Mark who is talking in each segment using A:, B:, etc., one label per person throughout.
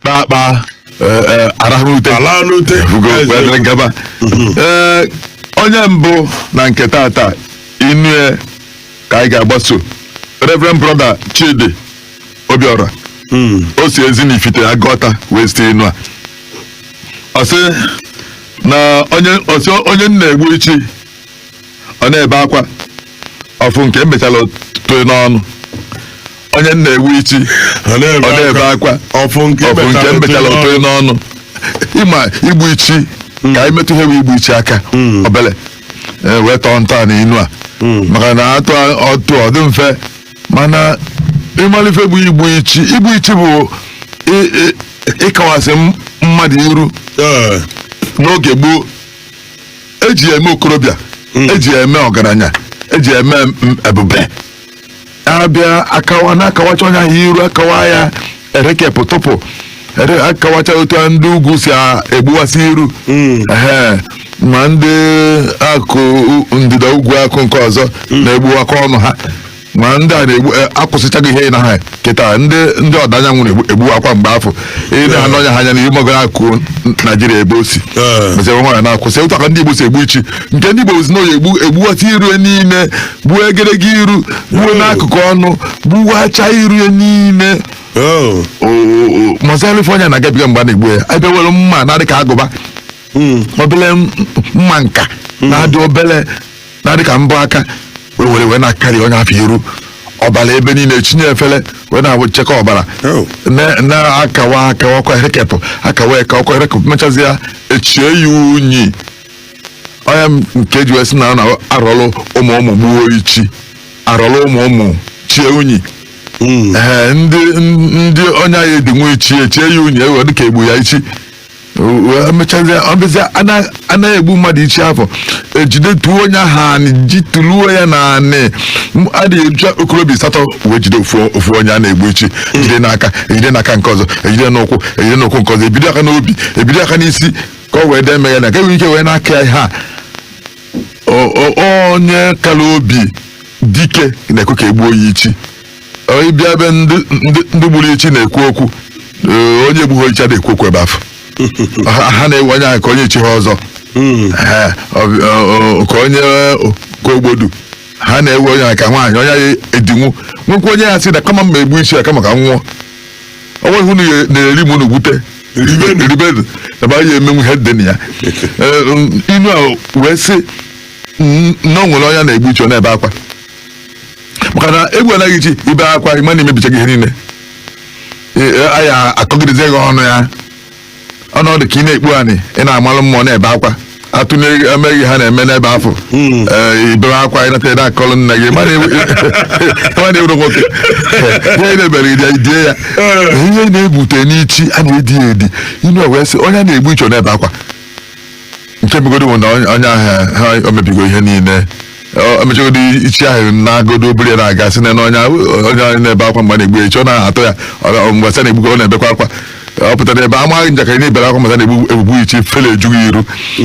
A: kpakpa arahụute gaba ee onye mbụ na nke tata inue ka anyị ga-agbaso reverend brother chidi obiora o si ezinifite aguata wee zite inu a ọ sị na onye ọ sị onye a na-egbu ichi ọ na-ebe akwa ọ fụ nke emechala toe n'ọnụ onye a na-egbu ichi ọ na-ebe akwa ọ fụ nke ọ fụ nke emechala emechala toe n'ọnụ ịma igbu ichi ka anyị metụ ihe bụ igbu ichi aka Mm. obele wee tọọ ntọanị inu a Mm. maka na atụ ọtụ ọ dị mfe mana ị malụ ife bụ igbu ichi igbu ichi bụ ị- ị- ịkawasị m- mmadụ iru Ee, n'oge gboo eji ya eme okorobịa eji ya eme ọgaranya eji ya eme m- ebube abịa akawa na-akawacha onye ahụ iru akawa ya erekepụ tụpụ ere- akawacha otu a ndị ugwu si a- egbuwasị iru Ehe. ma ndị akụ ndịda ugwu akụ nke ọzọ na-egbuwakwa ọnụ ha ma ndị a na-egbu eh, akwụsịchaghị ihe na ha kịta ndị ndị ọdịda anyanwụ na-egbuwakwa mgbe afụ ị na-ene onye ahụ anya n'ihu mara akụ naijiria ebe o si Eh. mechaa nwaanyị na-akwụsị ụta ka ndị igbo si egbu ichi nke ndị igbo si na oyi egbu egbuwata iru ya niile gbuo egedege iru gbuo Eh. n'akụkụ ọnụ gbuwacha iru ya niile Oh. malụ ife onye a na-agabiga mgbe a na-egbu ya ebe were mma na-adị ka agụba obele m- mma nka na-adị obele na-adị ka mbọ aka wee were wee na-akarị onye afụ iru ọbara ebe niile chinye efere wee na-echekọ ọbara Oh. na- na-akawa akawa ọkwa erekepụ akawa eke ọkwa erekepụ mechazi ya echie ya unyi ọ ya nke eji wee sị na ọ na-arọlụ ụmụ ụmụ gbuo ichi arọlụ ụmụ ụmụ chie unyi ee ndị ndị onye anyị edinwu ichi echie ya unyi ewe dịka egbu ya ichi emechazie ọbịzịa a na-egbu mmadụ ichi afụ ejide tuo onye ahụ anị ji tuluo ya na anị M- a na-eji okorobịa asatọ wee jide ofu ofu onye a na-egbu ichi ejide n'aka ejide n'aka nke ọzọ ejide n'ụkwụ ejide n'ụkwụ nke ọzọ ebido aka n'obi ebido aka n'isi ka ọ wee dee meghe na ka enwere ike wee na-aka ya ihe a O- o- onye kara obi dike na-ekwe ka egbuo ya ichi Ọ ịbịa ebe ndị ndị ndị gburu ichi na-ekwu okwu ee, onye gbugho ichi adịghị ekwu okwu ebe afụ Ha- ha na-ewe onye ahụ ka onye chigho ọzọ Mm. Ee, ọ bụ- ọ- ọ- ka onye ka ogbodu ha na-ewe onye ahụ ka nwaanyị onye ahụ edinwu nwekwa onye ya-asị na kama m ga-egbu ichi a kama ka m nwụọ ọ nweghị unu ya- na-eri m unu gwute Ribenu. ribenu ebe anyị emenwu ihe dị na ya Ee, m- inu a wee sị "N- na o nwere onye a na-egbu ichi ọ na-ebe akwa maka na egbu anaghị ichi ibe akwa ịma na imebicha gị ihe niile Ee, ee, a ya-akọgidezi gị ọnụ ya ọ na-adị ka ị na-ekpu anị ị na-amalụ mmụọ na-ebe akwa atụnye emeghị ha na-eme n'ebe afụ Hmm. Ee, ibere akwa ịnata ede akọlụ nne gị mana ị wụrụ nwoke ihe na-ebere ide idie ya ihe na-ebute n'ichi a na-edi ya edi inu wee sị onye a na-egbu ichi ọ na-ebe akwa nke megodo bụ na onye onye ahụ ha o mebigo ihe niile O- o mechagodo ichi ahụ na-agodo obere ya na-aga sị na na onye ahụ- onye ahụ na-ebe akwa mgbe a na-egbu ya ichi ọ na-atọ ya ọ- mgbe a na-egbukọ ọ na-ebekwa akwa ọ pụtara ebe a maa gị njakịrị na i bere akwa masa na-egbu egbugbu ichi ifele eju gị iru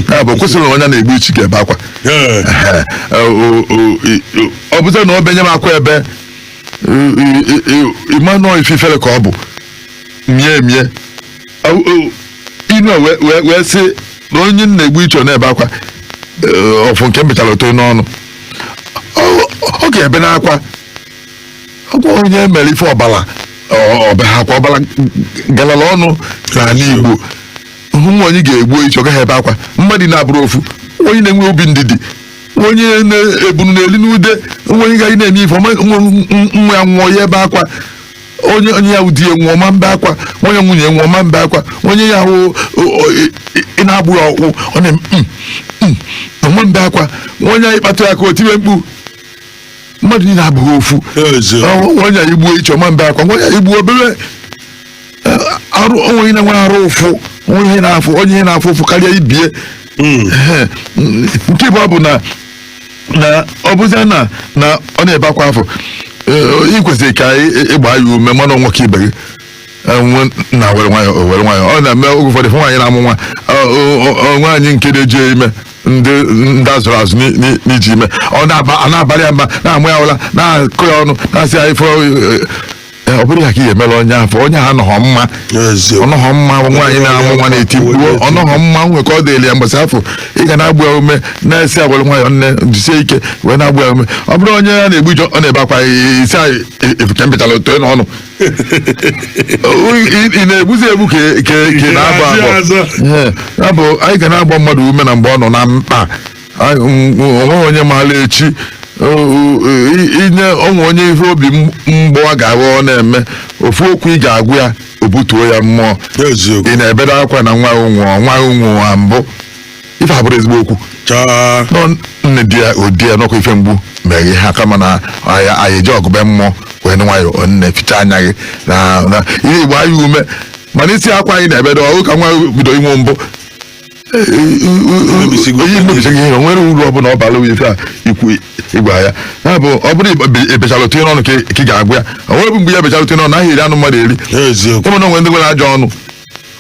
A: ya bụ kwesịrị na onye na-egbu ichi ga-ebe akwa Ee. Ehe. O- o- i- i- ọ bụzị na ọ benye m akwa ebe i- i- i- i- ịma nọọ ififere ka ọ bụ mie mie O- o- inu a wee- wee wee sị na onye a na-egbu ichi ọ na-ebe akwa eh, ọ fụ nke m bechara oto n'ọnụ Ọ- ọ ga-ebe n'akwa ọkwa onye mere ife ọbala ọ- ọbe ha akwa ọbala galala ọnụ n'anị Igbo o nwee onye ga-egbu ichi ọ gaghị ebe akwa mmadụ na-abụrọ ofu onye na-enwe obi ndidi onye na-ebunu n'elu n'ude onye gaghị na-eme ife ọma nwa nwa ya nwụọ ya ebe akwa onye onye ya wụ di ya nwụọ ọ ma mbe akwa onye nwunye ya nwụọ ọ ma mbe akwa onye ya ahụ ị na-agba ya ọkụ ọ na ọ ma mbe akwa onye ị kpatụ ya aka o tiwe mkpu mmadụ niile abụghị ofu onye e gbuo ichi ọ ma mbe akwa onye e gbuo obere arụ onwe na nwere arụ ụfụ onye ihe na-afụ onye ihe na-afụ ụfụ karịa ibie nke bụ na na ọ bụzia na na ọ na-ebe akwa afụ ị kwesịrị ka ị gbaa ya ume ma na ọ nwoke ibe gị nna were nwayọọ o were nwayọọ ọ na-eme oge ụfọdụ fụ nwaanyị na-amụ nwa nwaanyị nke na-eji ya ime ndị ndị azụrụ azụ n'i- n'i- n'iji ime ọ na-aba- a na-abalị ya mba na-ama ya ụla na-akụ ya ọnụ na-asị ya ife Ee, ọ bụrụ ya ka ihe mere onye afụ onye ahụ anọghọ mma Eziokwu. ọnọghọ mma nwaanyị na-amụ nwa na-eti mkpu ọnọghọ mma o nwe ka ọ dịrị ya mgbe afụ ị ga na-agba ya ume na-asị ya were nwayọ nne jisie ike wee na-agba ya ume ọ bụrụ onye a na-egbu ije ọ na-ebe akwa ị sị ya fụ nke m bechara oto n'ọnụ Ị- ị na-egbuzi egbu ka ka- ka ị na-abọ abọ Ee, ya bụ anyị ga na-agba mmadụ ume na mgbe ọ nọ na mkpa Anyị- m- m- onweghị onye maara echi o- o- i- inye onwe onye ihe obi m- mgbawa ga-aghọ ọ na-eme ofu okwu ị ga-agwa ya o butuo ya mmụọ eziokwu ị na-ebedo akwa na nwa gị nwụọ nwa gị nwụọ mbụ ife a bụrụ ezigbo okwu chaa nọ nne die ya o die ya n'ọkụ ife mgbu mere gị ha kama na anyị anyị eji ọgụbe mmụọ were nwayọ nne ficha anya gị na na ihe ịgba ya ume mana ị sị akwa a ị na-ebedo ọ gị ka nwa gị bido ịnwụ mbụ Emebisigo. onye mebisigo ihe o nwere uru ọbụla ọ bara ife a ikwu ịgwa ya ya bụ ọ bụrụ ịgba- ebechara otinye n'ọnụ ka ị- ka ị ga-agwa ya o nwere bụ mgbe ya bechara otinye n'ọnụ a ya-eri anụ mmadụ eri eziokwu ụmụ na o nwe ndị nwere ajọ ọnụ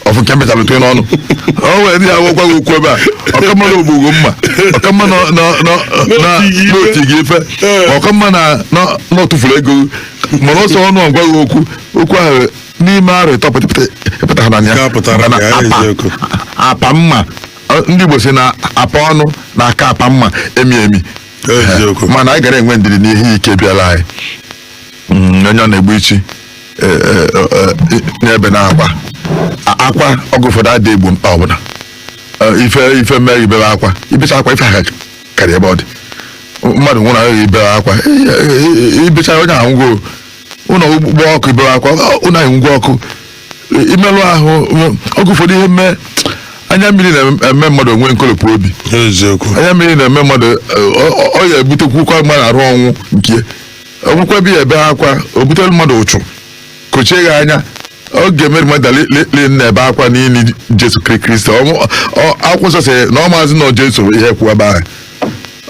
A: ọfụ nke mbechara otinye n'ọnụ o nwere ndị ya-agwakwa gị okwu ebe a ọ ka mma na o gbuo gị mma ọ ka mma na na- na- na- N'o ti gị ife. n'o ti gị ife Ee. ọ ka mma na na- na ọ tụfuru ego mana ọsọ ọnụ ọ gwa gị okwu okwu ahụ n'ime arọ ịtọ pụta- ị pụtaha na ya Nke a pụtara Maka na ka ya apa- eziokwu. apa mma ọ- ndị Igbo si na apa ọnụ na-aka apa mma emi emi eziokwu mana anyị ga na-enwe ndidi n'ihe ike bịara anyị Mm, onye ọ na-egbu ichi eh, eh, eh, eh, n'ebe na-akwa A- akwa oge ụfọdụ adịghị egbo mkpa ọbụla Eh, ife ife mee i bebe akwa i becha akwa ife a ka dị ebe ọ dị mmadụ nwụrụ ahụ i bebe akwa Eh, eh, eh, i becha onye ahụ anwụgo ụlọ gbaa ọkụ i bere akwa ọ, ụlọ enwugo ọkụ i- imerụ ahụ ume- oge ụfọdụ ihe mee anya mmiri na-eme mmadụ o nwee nkolopu obi eziokwu anya mmiri na-eme mmadụ eh, ọ- ọ- ọ ya-ebutekwukwa mmadụ arụ ọnwụ nke o nwekwa ebe a ya-ebe akwa o butere mmadụ ụchụ kochie ya anya oge Mary Magdalene na-ebe akwa n'ili Jesu Kri- Kristi Ọ- ọ- akwụkwọ nsọ sị na ọ maazị na ọ Jesu kwụ ebe ahụ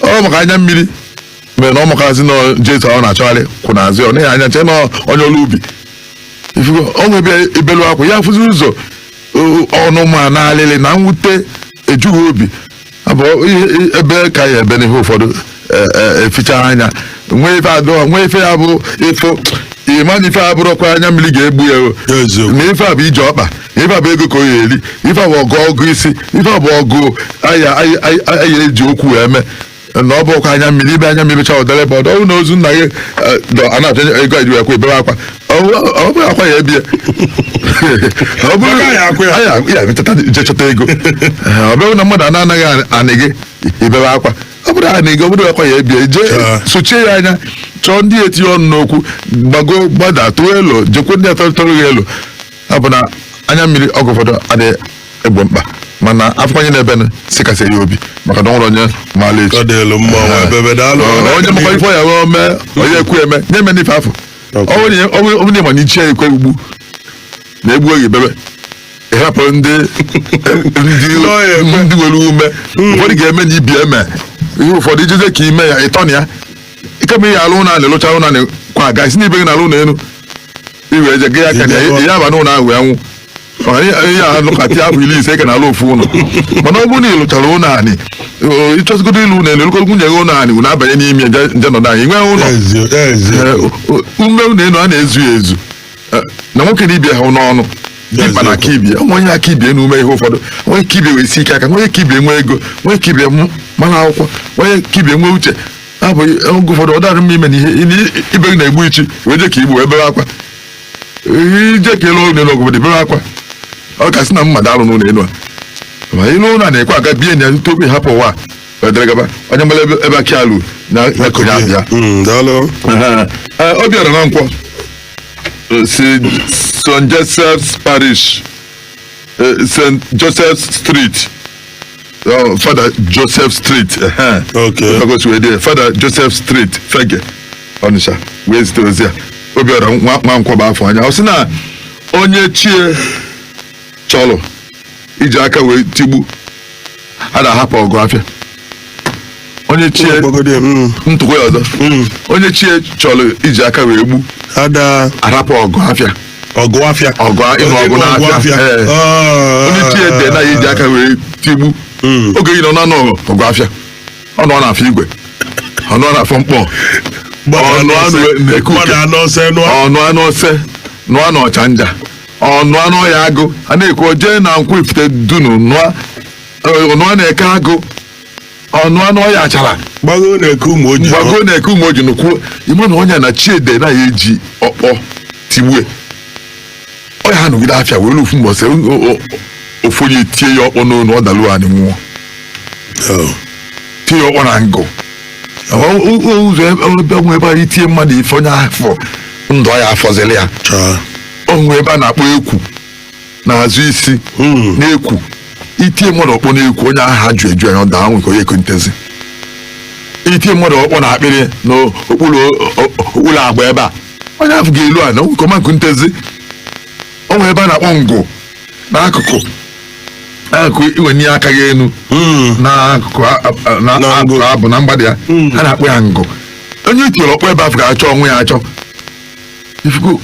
A: ọ maka anya mmiri mere na ọ makwazị na Jesu ọ na-achọgharị kwụ n'azụ ya ọ nee ya anya chee na onye ọrụ ubi ifugo o nwe ebe ị ya-ebelu akwa ị ya afụzi ụzọ o- ọnụma na alịlị na mwute eju gị obi abụghị ebe ka a ya-ebe n'ihe ụfọdụ e- e- e fichaa anya nwee ife adọ nwee ife ya bụ ife ị ma na ife a abụrọkwa anya mmiri ga-egbo ya o. Eziokwu. na ife a bụ ije ọkpa na ife a bụ ego ka ọ ya-eri ife a bụ ọgụgụ isi ife a bụ ọgụ a ya a ya- a ya-eji okwu wee mee na ọ bụrọkwa anya mmiri i bee anya mmiri cha ọ dịrị ebe ọ dị ọ bụ na ozu nna gị a na-achọ ego eji akwa i bere akwa ọ bụrọ akwa ya-ebi ya ọ bụrụ ya metata je chọta ego ọ bụrụ na mmadụ ana gị anị gị i bere akwa ọ bụrụ anị gị ọ bụrọ akwa ya-ebi ya jee sochie ya anya chọọ ndị ya-etinye ọnụ n'okwu gbago gbada tụọ elu jekwu ndị atọrịtọrọ gị elu ọ bụ na anya mmiri oge ụfọdụ adịghị egbo mkpa mana a fụ onye na-ebenụ sị kasie ya obi maka na o nwero onye maalụ echi ọ dịlụ mma nwa ebebe daalụ Ọ- onye makwa ife ya wee mee onye ekwu eme nye me n'ife afọ Okay. ọ bụrụ na- ọ bụrụ- ọ bụrụ na ị ma na ichi ya ekwe ugbu na-egbu oge bebe ịhapụ ndị ndị Nọ ya ekwe. ndị nwere ume ụfọdụ ga-eme na ibi eme ihe ụfọdụ ijije ka ime ya ịtọ na ya ike ma ihe alụ na na-elụcha ụnọ na kwa a ga-asị na ibe gị na-alụ ụnọ elu i we ejighị aka na ị ya-aba n'ụlọ ahụ wee nwụọ Ma ihe ị ya-anọkata afọ iri ise ka na-alụ ofu ụlọ mana ọ bụrụ na ị lụchara ụlọ anị o, ịchọzigodo ịlụ ụlọ elu elukọrọ nwunye gị ụlọ anị unu abanye n'ime je je nọdụ anyị nwee ụlọ Ezi, ezi. Ee, o- o- ume ụlọ elu a na-ezu ya ezu Ee, na nwoke na ibe ya ha n'ọnụ Yes, ịkpa na yes. aka ibe ya nwa onye ka ibe ya na ume ihe ụfọdụ nwa ka ibe ya wee sie ike aka nwa ka ibe ya nwee ego nwa ka ibe ya mụ- mara akwụkwọ nwa ka ibe ya nwee uche abụ oge ụfọdụ ọ dịrọ mma ime na ihe ị- ibe gị na-egbu ichi wee je ka i gbu wee bere akwa i je ka ị lụ ụlọ ọgwụ dị bere akwa ọ ka sị na mmadụ alụna ụlọ elu a ma ị lụ ụlọ a na-ekwe a ga-ebi na ya tupu ị hapụ ụwa a, wee dere gaba onye mara ebe ebe aka ya lu na-ekonye akpa ya Mm, daalụ Ee, Obiọra Nwankwọ Ee, si St. Joseph's Parish Ee, St. Joseph's Street Ọ, Father Joseph Street ehe. Okay.
B: Ebe o si wee dee ya,
A: Father Joseph Street Fegge Ọnịsha wee zite ozi a Obiọra Nwa Nwankwọ aba afọ anya ọ sị na onye chi ya chọrọ iji aka wee tigbu ada ahapụ ọgụ afịa onye chi ya Ogbogode, mm, ntụkwa ya ọzọ mm. onye chi ya chọrọ iji aka wee gbu ada arapụ ọgụ afịa ọgụ afịa
B: ọgụ a- ịnụ ọgụ
A: n'afịa ee. onye chi ya de na ya eji aka wee tigbu Mm. oge yi nọ na-anụ ọgụ afịa ọ nụa na Afọ Igwe ọ nụa na Afọ Nkpọ ọ nụa nụ na Eke Uke. anụ ọsọ nụọ ọ nụa n'Ose nụa n'Ọchanja ọ nụa n'Oye Agụ a na-ekwu jee na Nkwọ Ifitedunu nụọ ọ nụa na Eke Agụ ọ nụa n'Oye Achara gbago na Eke
B: Ụmụoji gbago na Eke Ụmụoji nụkwuo ị ma na onye a na chi ya de na ya
A: eji ọkpọ tigbue ọ ya-anụgide afịa wee lue ofu mbọsị ofu onye tie ya ọkpọ n'onu ọ dalu anị nwụọ tie ya ọkpọ na ngụ ụzọ ebe o nwe ebe i tie mmadụ ife onye afụ ndụ ya afọzili ya o nwe ebe a na-akpọ ekwu n'azụ isi n'ekwu i tie mmadụ ọkpọ n'ekwu onye ahụ aju eju anya ọ daa nwe ike ọ ya-ekunitezi i tie mmadụ ọkpọ na akpịrị n'okpuru okpuru agba ebe a onye afụ ga-elu ana nwe ike ọ ma-ekunitezi o nwere ebe a na-akpọ ngụ n'akụkụ akụkụ i wenie aka ya enu n'akụkụ a- a- na- Na akụkụ ngụ. abụ na mgbada ya a na-akpọ ya ngụ onye i tiere ọkpọ ebe afụ ga-achọ onwe ya achọ ifuku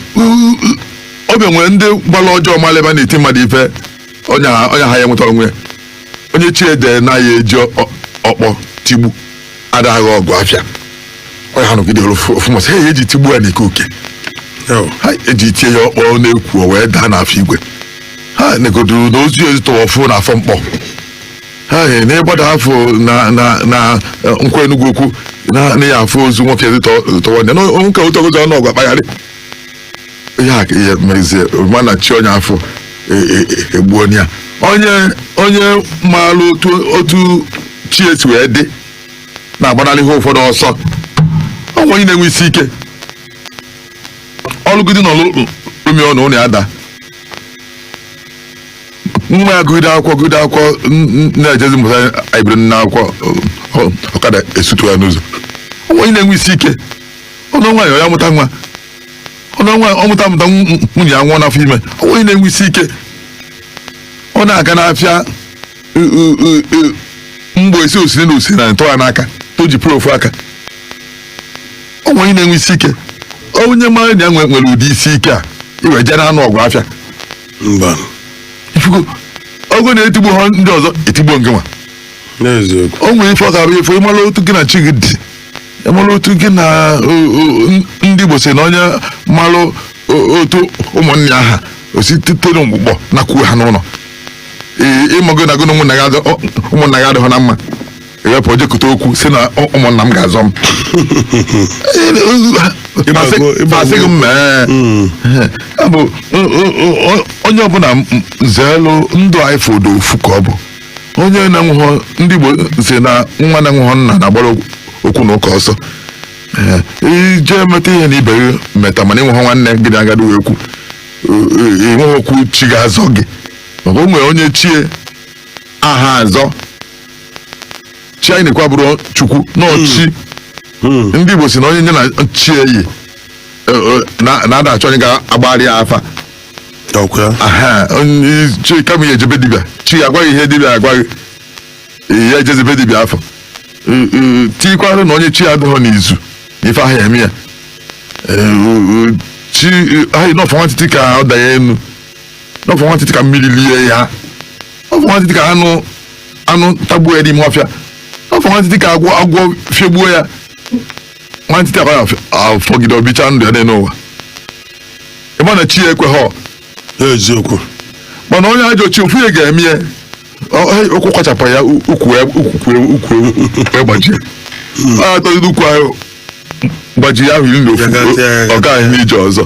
A: obi nwere ndị gbara ọjọọ mara ebe a na-eti mmadụ ife onye ha onye ha ya nweta onwe ya onye chi ya de na ya eji ọ- ọkpọ tigbu ada agha ọgụ afịa ọ ya-anụgide ru ofu ofu mbọsị ha eji tigbu ya n'Eke Uke Yo. ha eji tie ya ọkpọ n'ekwu o wee daa n'Afọ Igwe ha negodo na ozu ya ezitọwa ọfụ n'Afọ Nkpọ ha e, na ịgbada afụ na na na eh, Nkwọ Enugwu Ukwu na na ya afụ ozu nwoke dị tọ- tọwa ndị nwoke ụtọ ụzọ ọnụ ọgwa kpagharị ihe a ka ihe mezie mana chi onye afụ e- e- e- egbuo onye a onye onye maara otu otu chi ya si wee dị na-agbanarị ihe ụfọdụ ọsọ o nwere onye na-enwe isi ike ọ lụgide na ọlụ umi ọnụ ụnọ ya daa nwa ya gụgide akwụkwọ gụgide akwụkwọ n- n- na-ejezi mụta anyị biri nna akwụkwọ ọ- ọ- ọkada esutu ya n'ụzọ o nwere onye na-enwe isi ike ọ nụọ nwaanyị ya mụta nwa ọ nụọ nwaanyị ọ mụta mụta nw- nwunye ya anwụọ n'afọ ime o nwere onye na-enwe isi ike ọ na-aga n'afịa ụ- ụ- ụ- ụ- mgbe esi osiri na osiri na ntọ ya n'aka o ji pụrụ ofu aka o nwere onye na-enwe isi ike onye mara na ya nwe- nwere ụdị isi ike a i wee jee na-anụ ọgụ afịa mba ị fụgo ọgụ na etigbuhọ ndị ọzọ etigbuo ngị nwa n'eziokwu o nwere ife ọ ga-abụ ife ị mara otu gị na chi gị dị ị mara otu gị na o- o- n- ndị igbo si na onye mara o- otu ụmụnne ya ha o sitere na mgbụgbọ nakwuo ha n'ụnọ Ee, ị mago na gị na ụmụnna gị adị- ọ- ụmụnna gị adịghọ na mma i wee pụọ jee kọta okwu sị na "Ọ- ụmụnna m ga-azọ m Asị- ịgba asị gị m mee Ya bụ, o- o- o- onye ọbụna m- m- zeelụ ndụ ya ị fọdụ ofu ka ọ bụ onye na-enweghọ ndị Igbo si na nwa na-enweghọ nna na-agbara okwu na ụka ọsọ Ee, i jee meta ihe na ibe gị meta mana i nweghọ nwanne gị na agadi wee kwu i nweghị okwu chi ga-azọ gị maka o nwere onye chi ya aha azọ chi anyị na-ekwu abụrọ Chukwu na ọchị Hmm. ndị igbo si na onye nya na chi ya yi eh, eh, na- na-ada achọ onye ga-agbara ya afa ọkwa ya aha onye chi kama ya eje be dibịa chi ya agwa ya ihe dibịa ga-agwa ya eh, ya ejezi be dibịa afụ Eh, eh, tikwara na onye chi ya adịghọ n'izu ife ahụ ya eme ya Eh, eh, chi eh, ahụ na ọ fọ nwantịtị ka ọ danye enu na ọ fọ nwantịtị ka mmiri lie ya ọ fọ nwantịtị ka anụ anụ tagbuo ya n'ime ọfịa ọ fọ nwantịtị ka agwọ agwọ fiegbuo ya nwantịtị akwa ya afọgide o bichaa ndụ ya niile n'ụwa ị ma na chi ya ekweghọ ya
B: eziokwu
A: mana onye ajọ chi ofu ihe ga-eme ya ọ- hey, ụkwụ kwachapụ ya u- ukwu ya- ukwu ya- ukwu ya- ukwu ya gbajie a atọgide ukwu ahụ gbajiri ahụ iri na ofu Gagasịa ya, ọ gaghị n'ije ọzọ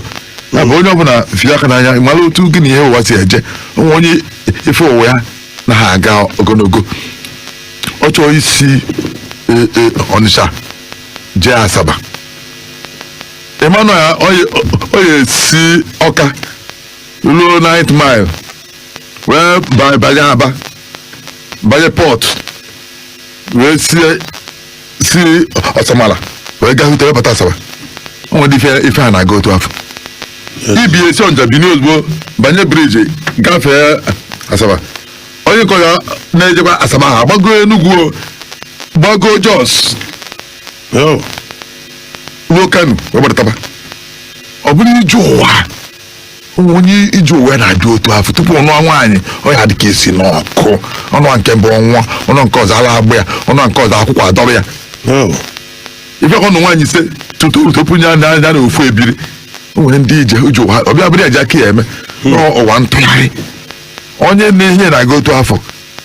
A: ya bụ onye ọbụla fie aka n'anya mara otu gị na ihe ụwa si eje o nwee onye ife ụwa ya na ha aga ogologo ọ chọọ isi e, e, ọnịsha jee asaba ị manụ ya ọ ya- ọ ya esi ọka ruo ninth mile wee ba- banye aba banye port wee sie si ọsamala wee gaa hụta wee bata asaba o nwere ife ife a na-aga otu afụ ibe ya si ọnịsha binie ozugbo banye bridge gafee asaba onye nke ọya na-ejekwa asaba ha gbago enugwu o, gbago jos Yo, ruo kano wee gbadataba ọ bụrụ ije ụwa o nwee onye ije ụwa ya na-adị otu afụ tupu ọ nụọ nwaanyị ọ ya dị ka esi n'ọkụ ọ nụọ nke mbụ ọ nwụọ ọ nụọ nke ọzọ ala agba ya ọ nụọ nke ọzọ akwụkwụ adọrọ ya ị fụ ka ọ nụọ nwaanyị ise tutu tupu ya na nya na ofu ebiri o nwere ndị ije ije ụwa ọ bịa bụrụ eji aka ya eme Ọ ụwa ntụgharị onye na ihe na-aga otu afụ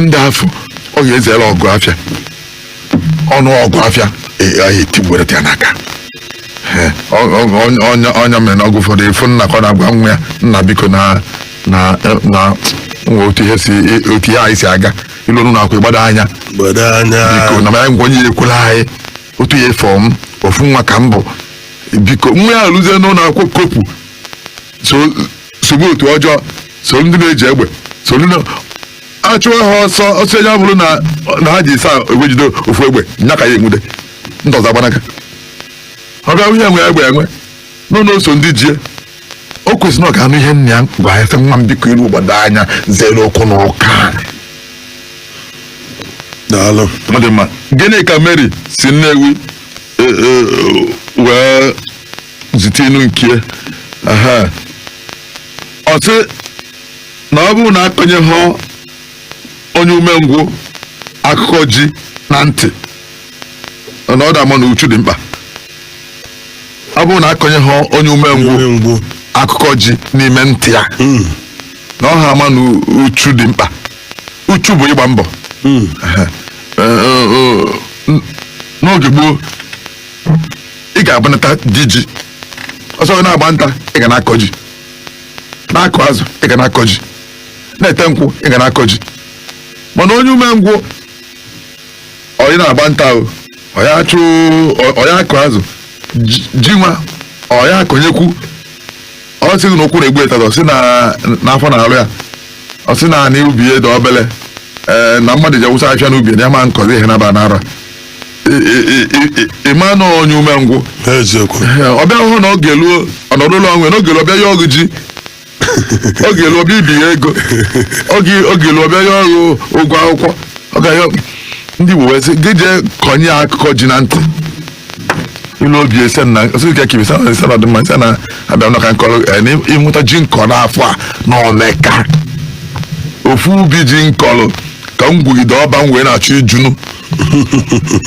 A: ndị afụ ọ ga-ezere ọgụ afịa ọ nụọ ọgụ afịa afịa etiwere ya n'aka Ee, ọ- ọ- onye- onye ọ nya mere n'oge ụfọdụ ị fụ nna ka ọ na-agwa nwa ya nna biko na na na nwa otu ihe si otu ihe anyị si aga i lue n'ụnọ akwụkwọ ị gbado anya gbado anya biko na mara ngwa onye ya ekwela anyị otu ị fụ m ofu nwa ka m bụ biko nwa ya eluzie n'ụlọ akwụkwọ kopu so sobe otu ọjọọ so ndị na-eji egbe so ndị na- achụwa ha ọsọ ọsọ ya bụrụ na na ha dị asaa e wee jide ofu egbe nya ka ya enwude ndị ọzọ agbanaga ọ bịa wụ ihe enwe egbe enwe nọ na o so ndị ji ya o kwesịrị na ọ ga-anụ ihe nna ya gwa ya sị nwa m biko i rue gbado anya zere okwu na
B: ụka daalụ ọ dị mma
A: gịnị ka mary si nnewi e- e- wee zite inu nke ya. Aha. ọ sị na ọ bụrụ na akọnyeghọ onye umengwụ akụkọ ji na ntị na ọ da-ama na uchu dị mkpa ọ bụrụ na akọnyeghọ onye umengwụ Onye umengwụ. akụkọ ji n'ime ntị ya Mm. na ọ ha ama na uchu dị mkpa uchu bụ ịgba mbọ Mm. Ee, ee, ee, n'oge gboo ị ga-abụnata di ji ọ sọ gị na-agba nta ị ga na-akọ ji na-akụ azụ ị ga na-akọ ji na-ete nkwụ ị ga na-akọ ji mana onye umengwụ ọyị na-agba nta o ọya achụ ọ- ọ ya akụ azụ ji- ji nwa ọ ya akọnyekwu ọ sị gị na ụkwụ na-egbu ya taata ọ sị na n'afọ na-alụ ya ọ sị na anị ubi ya dị obele ee na mmadụ ji awụsa afịa n'ubi ya ama m akọzi ihe naba n'arọ a ịma na onye umengwụ eziokwu ọ bịa hụ na oge eluo ọ nọdụlụ onwe na oge eluo ọ bịa ịyọ gị ji oge eluo ọ bịa ibi ya ego oge oge eluo ọ bịa ịyọ gị ụgwọ akwụkwọ ọ ga ya ndị Igbo wee sị gị jee kọnye ya akụkọ ji na ntị ilu obi ese na sị ka kibi sana ese na ọdịmma ese na abịa nọ ka nkọrọ eh, na ịnwụta ji m kọrọ n'afọ a na omeka ofu ubi ji m kọrọ ka m gwugide ọba m wee na-achọ ijunu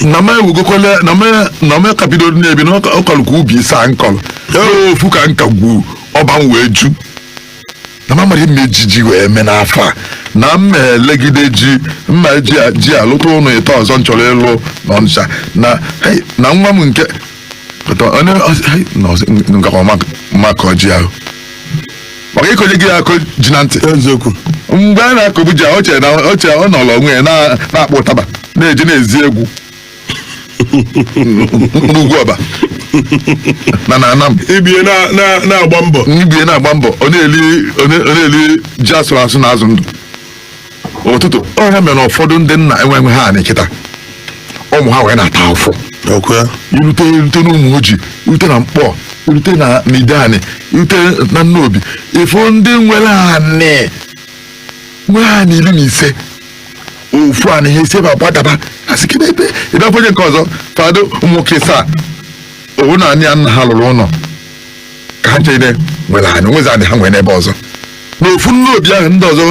A: na m ewugokwala na m na m ka bido na-ebi na ọ kọrọ ka ubi isaa m kọrọ ee ofu ka m ka gwuo ọba m wee ju na m amaghị ma e ji ji wee mee n'afọ a na m elegide ji m a ji a- ji alụta ụlọ ịtọ ọzọ m chọrọ ịlụ n'Ọnịcha na hey, na nwa m nke Pụta, ọ na- ọ- hai, na ọzọ, m- m gakwa ma- ma kọọ ji ahụ maka ịkọnye gị akụkọ ji na ntị eziokwu mgbe a na-akọbu ji ahụ o chere na o chere ọ nọrọ onwe ya na- na-akpọ ụtaba na-eje na-ezi egwu n'Ugwuọba na na Anam ibe ya na- na-
B: na-agba mbọ na ibe ya na-agba mbọ
A: ọ na-eli ọ na- ọ na-eli ji a sụrụ asụ na azụ ndụ ụtụtụ ọ ya mere na ụfọdụ ndị nna enwe- enwehọ anị kịta ụmụ ha wee na-ata afụfụ i rute i rute n'Ụmụọjị i rute na Nkpor i rute na Ideani i rute na Nnobi ị fụ ndị nwere anị nwee anị iri na ise ofu anị ha e si ebe a gbadaba a sị kedu ebe ebe afọ onye nke ọzọ fado ụmụ nwoke isaa ọ wụ na anị a nna ha lụrụ ụlọ ka ha chere nwere anị o nwezi anị ha nwere n'ebe ọzọ n'ofu Nnobi ahụ ndị ọzọ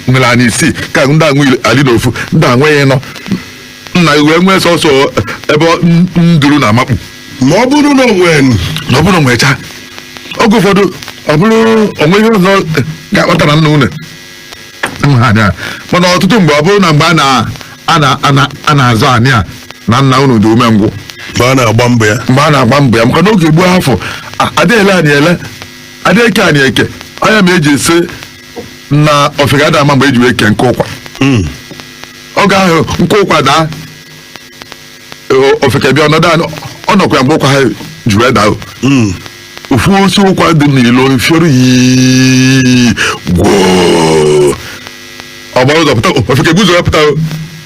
A: nwere anị isii ka ndị a nwe ali n'ofu ndị a enweghị nọ nna gị wee nwee sọsọ ebe ọ- n- nduru na-amakpu ma ọ bụrụ
B: na o nwe na ọ bụrụ
A: nwecha oge ụfọdụ ọ bụrụ o nwee ihe ọzọ ga-akpata na nna unu ha na mana ọtụtụ mgbe ọ bụrụ na mgbe a na- a na- a na- a na-azọ anị a na nna unu dị umengwụ mgbe a na-agba
B: mbọ ya mgbe a na-agba mbọ ya maka na
A: oge gboo afọ a- ada ele anị ele ada eke anị eke ọ ya mere e ji asị na ofeke ada ama mgbe e ji wee kee nkụ ụkwa Mm. oge ahụ nkụ ụkwa daa o- ofeke bịa nọdụ anị ọ nọkwa ya mgbe ụkwa ahụ ji wee daa o. ofu osi ụkwa dị n'ilo fioro yi gwoo ọ gbara ụzọ pụta o, ofeke guzo ya pụta o.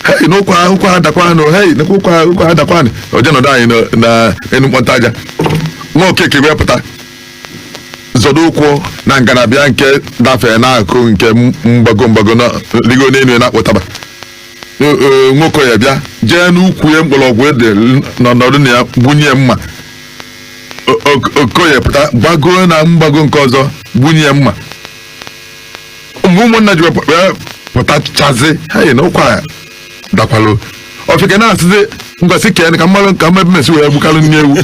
A: hei na ụkwa ụkwa adakwanụ hei na ụkwa ụkwa adakwanụ o je nọdụ anị na- na enu mkpọnta aja nwa Okeke wee pụta zọdo ụkwụ na ngalaba nke dafere n'aka nke mgbago mgbago na ligo n'elu ya na-akpọ ụtaba nwoke ya bịa jee n'ukwu ya mkpọrọgwụ dị nọ nọdụ na ya gbunye ya mma O- o- Okoye pụta gbagoo na mgbago nke ọzọ gbunye ya mma mgbe ụmụnna ji wepụ- wee pụtachazi hei na ụkwa adakwalụ ofeke na-asịzi ngosi ka ya ka mmadụ ka mmadụ mesi wee gbukalụ nne ewu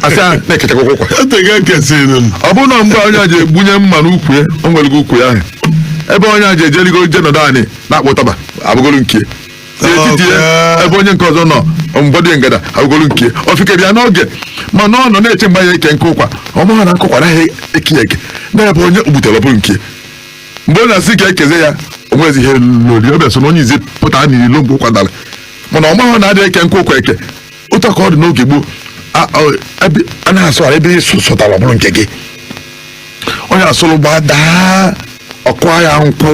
A: asị a na-ekechakwa ụkwa Atega kesịrị m. ọ bụrụ na mgbe onye a ji egbunye mma n'ukwu ya o nwere gị ukwu ya ahụ ebe onye a ji ejeligo je nọdụ anị na-akpọ ụtaba abụgolu nke ya etiti ya Okay. ebe onye nke ọzọ nọ mgbọdụ ya ngada abụgolu nke ya ofeke bịa n'oge mana ọ nọ na-eche mgbe a ya-eke nkụ ụkwa ọ maghị na nkụ ụkwa anaghị eke ya eke na ebe onye gbutere ọ bụrụ nke ya. mgbe ọ na-asị ka e kezie ya o nwezi ihe lori ọ bịa so na onye izizi pụta n'ilo mgbe ụkwa dara mana ọ maghị na a dịghị eke nkụ ụkwa eke otu ka ọ dị n'oge gboo a- ọ- ebe- a na-asụ ala ebe ị sụ- sụtara ọ bụrụ nke gị onye asụrụ gbadaa ọ kụọ ya nkwụ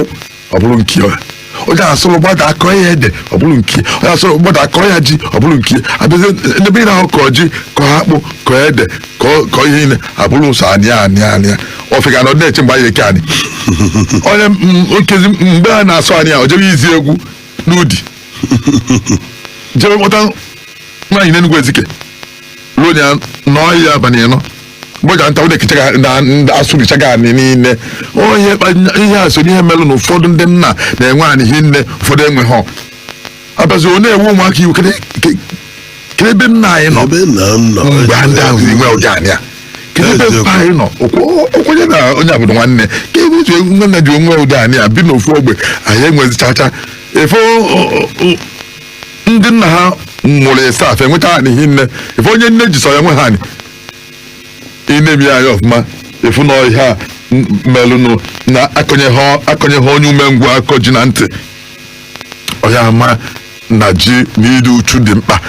A: ọ bụrụ nke ya onye asụrụ gbada a kọọ ya ede ọ bụrụ nke ya. onye asụrụ gbada a kọọ ya ji ọ bụrụ nke ya. a bịazie n'ebe ị na-ahụ kọọ ji kọọ akpụ kọọ ede kọọ kọọ ihe niile abụrụ sọ anị anị anị ofeke nọ na-eche mgbe a ya-eke anị onye m- nkezi mgbe a na-asụ anị o jebe izi egwu n'Udi jebe kpọta nwaanyị n'Enugwu Ezike ruo ya n'ọhịa abalị ịnọ mgbe ọ ja-anata ụdị kicha na ndị asụbichago anị niile onye kpa- ihe a so n'ihe melụ na ụfọdụ ndị nna na-enwe anị hinne ụfọdụ enweghị a bịazi ọ na-ewe ụmụaka iwe kedu ke- kedu ebe nna anyị nọ ebe nna m nọ mgbe ndị ahụ si nwe ụdị anị a kedu ebe Eziokwu. mpa anyị nọ Okwu- okwenye na onye abụrụ nwanne ka ebe otu nwanne ji nwee ụdị anị a bi n'ofu ogbe anyị enwezi chacha ife o- o- o- ndị nna ha mụrụ ịsaa fa nweta anị hinne ife onye nne ji sọ ya nwee anị ị nene ya anya ọfụma ị fụ na ihe a m- melụnụ na akọnye ha akọnye ha onye umengwụ akọ ji na ntị ọ ya-ama na ji na ịdị uchu dị mkpa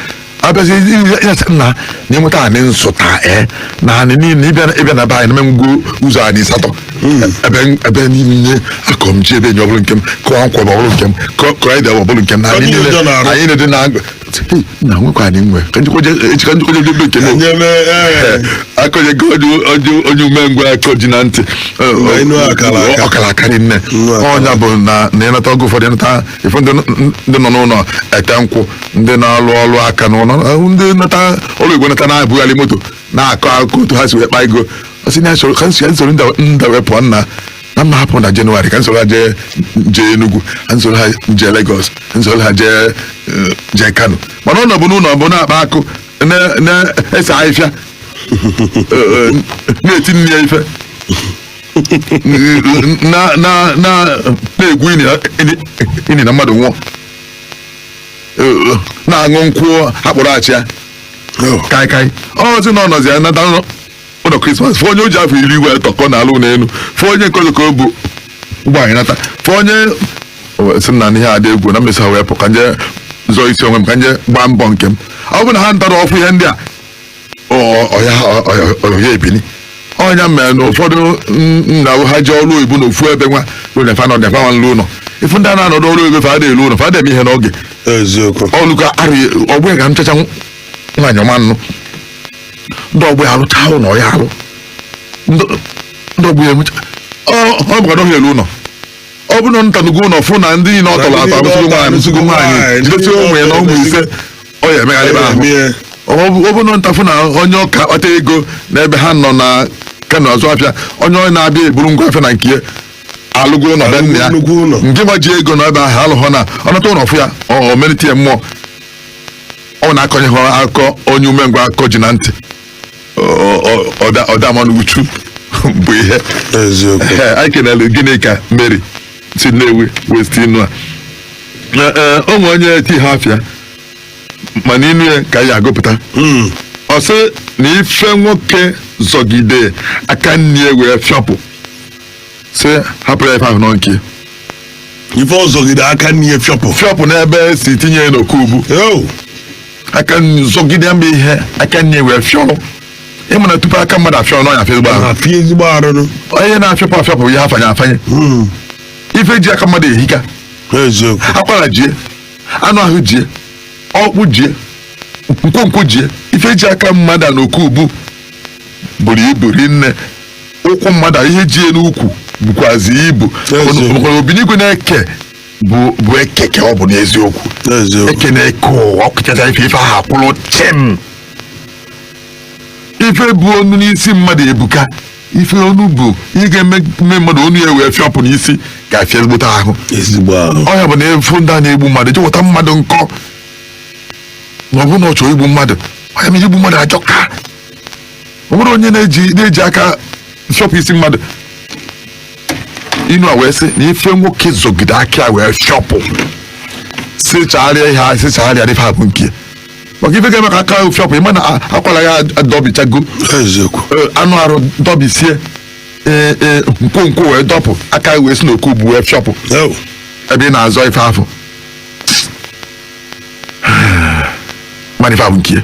A: a bịazi ịnacha nna na ịnweta anị nsụta e na anị niile ịbịa na- ịbịa na be anyị na m enwego ụzọ anị asatọ ebe ebe niile akọ m ji ebe enyi ọ bụrụ nke m kọọ nkwa bụ ọ bụrụ nke m kọọ kọọ ede ọ bụrụ nke m na anị Onye niile ụjọ na-arụ. anị na-ede n'agụ Hey, na nwekwa anị nwe ka njikwaje echi ka njikwaje ebe nke m Nye m, eh, akọnyego onye onye onye umengwụ akọ ji na ntị Mgbe enu akara aka. ọ kara aka rinne Nnụ akara. ọ nya bụ na na ịnata ọgụ ụfọdụ ịnata ife ndị ndị nọ n'ụnọ ete nkwụ ndị na-alụ ọlụ aka n'ụnọ ahụ ndị nata ọlụ igwe nata na-ebughalị moto na-akọ akụkọ otu ha si wee kpa ego ọ sị na ya soro ka m soro m soro nda nda wee pụọ nna na m ma-ahapụ na Jenụwarị ka m soro ha jee jee Enugu ka m soro ha jee Lagos ka m soro ha jee eh, jee Kano mana ọ nọbu n'ụnọ bụ na-akpa akụ na- na-ese afịfịa eh, eh, na-eti nne ya ife na na na na-egwu ini na- ini- ini na mmadụ nwụọ Eh, na-aṅụ nkwụ akpụrụ achịa kai kai ọ sị na ọ nọzi ya nata nọ- ụlọ krismas fụ onye o ji afọ iri wee tọọ ka ọ na-alụ ụlọ elu fụ onye nke ọzọ ka o bu ụgbọ anị nata fụ onye O wee sị m na ihe a dị egwu na m mesịa wee pụ ka m je zọọ isi onwe m ka m je gbaa mbọ nke m ọ bụ na ha natara ọ fụ ihe ndị a ọ ya ebili ọ nya mere na ụfọdụ nna ha ji ọrụ oyibo na ofu ebe nwa fa nọ na fanwa nlu ụlọ ị fụ ndị a na-anọdụ ọrụ oyibo fa ada elu ụlọ fa ada eme ihe n'oge eziokwu ọlụkọ arị ọgbọ ya anụchacha nwaanyị ọ ma anụ ndị ọgbọ ya alụcha ụlọ ọ ya alụ ndị ọgbọ ya emecha ọ bụ ọ dịghị elu ụlọ ọ bụrụ na natanugo ụlọ fụ na ndị niile ọ tọrọ atọ anụsịgo nwaanyị anụsịgo nwaanyị jidesi ụmụ anọ ụmụ ise ọ ya emegharịba ahụ Emegharị. ọ bụ- ọ bụ na nata fụ na onye ọ ka akpata ego n'ebe ha nọ na kano azụ afịa onye ọ na-abịa eburu ngwa afịa na nke ya alụgo ụlọ be nna ya Nnukwu ụlọ. nke ma ji ego na ebe ahụ alụghọ na ọ nata ụlọ fụ ya ọ ọ melite ya mmụọ ọ na-akọnye ha akọ onye umengwụ akọ ji na ntị Ọ- ọ- ọda ọdamanụ uchu bụ ihe eziokwu Ee, anyị kelere gị Nneka Mary si nnewi west inu a Na, eh, o nwere onye tihọ afa ya mana inu ya ka a ya agụpụta Mm. ọ sị na ife nwoke zọgide aka nni ya wee fịọpụ sị hapụrụ ya ife ahụ na ọ nke
B: ya ife ọ zọgide aka nni ya fịọpụ fịọpụ n'ebe
A: e si tinye ya n'oke ubu Yo. aka nni zọgide ya mgbe ihe aka nni ya wee fịọrọ ị ma na tupu aka mmadụ afịọ na ọ ya afịa ezigbo ahụ afịa ezigbo arụ onye na-afịapụ afịapụ ya afanye afanye Mm, ife ji aka mmadụ ehika eziokwu akwara jie anụ ahụ jie ọkpụ jie nkwonkwo jie ife ji aka mmadụ a n'oke ubu buru ibu rinne ụkwụ mmadụ a ihe jie n'ukwu bukwazi ibu Ezi. maka obinigwe na-eke bụ bụ eke ka ọ bụ n'eziokwu eziokwu eke na-eke ụwa o kechacha ife ife ahụ akwụrụ chịm ife bụ onu n'isi mmadụ ebuka ife onu bụ ihe ga-eme mme mmadụ onu ya wee fịọpụ n'isi ga-afịa ezigbote ahụ ezigbo ahụ ọ ya bụ na ị fụ ndị a na-egbu mmadụ jeweta mma dị nkọ na ọ bụrụ na ọ chọrọ igbu mmadụ ọ ya mere igbu mmadụ ajọka ọ bụrụ onye na-eji na-eji aka fịọpụ isi mmadụ inu a wee sị na ife nwoke zọgide aka ya wee fịọpụ sị haara ya ihe a sị haara ya ife a bụ nke ya. maka ife ga-eme ka aka ahụ fịọpụ ị ma na a- akwara ya adọbichago eziokwu Ee, anụ arụ dọbisie ee, ee, nkwonkwo wee dọpụ aka wee si n'oke ubu wee fịọpụ Ew. ebe ị na-azọ ife afụ ma na ife a bụ nke ya.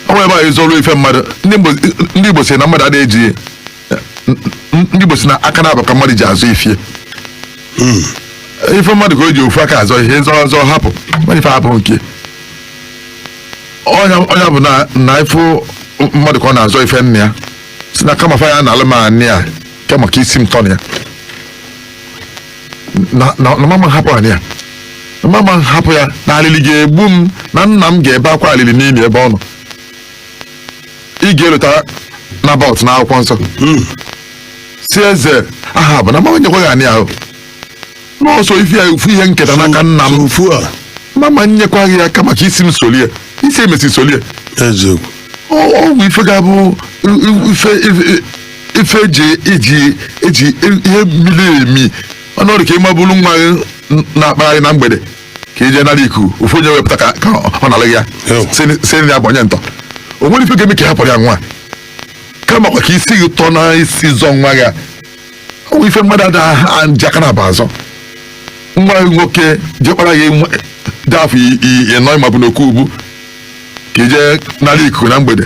A: ọ nwere ebe a ị zọrọ ife mmadụ ndị Igbo- ndị igbo sị na mmadụ adịghị eji N- ndị Igbo si na aka nabọ ka mmadụ ji azọ ife ya ife mmadụ ka o ji ofu aka azọ ihe nzọ ọzọ hapụ mmadụ ife hapụ nke ọ nya ọ nya bụ na na ife mmadụ ka ọ na-azọ ife nna ya si na kama fa ya-analụ m anị a kama ka isi m tọ na ya na na na m ama hapụ anị a na m ama hapụ ya na alili ga-egbu m na nna m ga-ebe akwa alili n'ili ebe ọ nọ ị ga-elota Nabọt n'akwụkwọ nsọ si eze Ahab na m ama nyekwa gị anị ahụ na ọ sọ ife a ofu ihe nketa n'aka nna m na m ama nyekwa gị ya kama ka isi m solie isi e mesị solie eziokwu ọ ọ bụ ife ga-abụ i- ife ife- ife eji eji eji ihe miri emi ọnọdụ ka ị maburu nwa gị na-akpagharị na mgbede ka i je nara ikuku ofu onye wepụta aka ka ọ nalụ gị ya si gị na ya bụ onye ntọ o nwere ife ga-eme ka ị hapụrụ ya nwa kama kwa ka isi gị tọ na isi zọ nwa gị ọ bụ ife mmadụ ada ha ji aka nabọ azọ nwa gị nwoke diọkpara gị nwa- dị afọ i- i- inọ ị mabu n'oku ubu ka i je nara ikuku na mgbede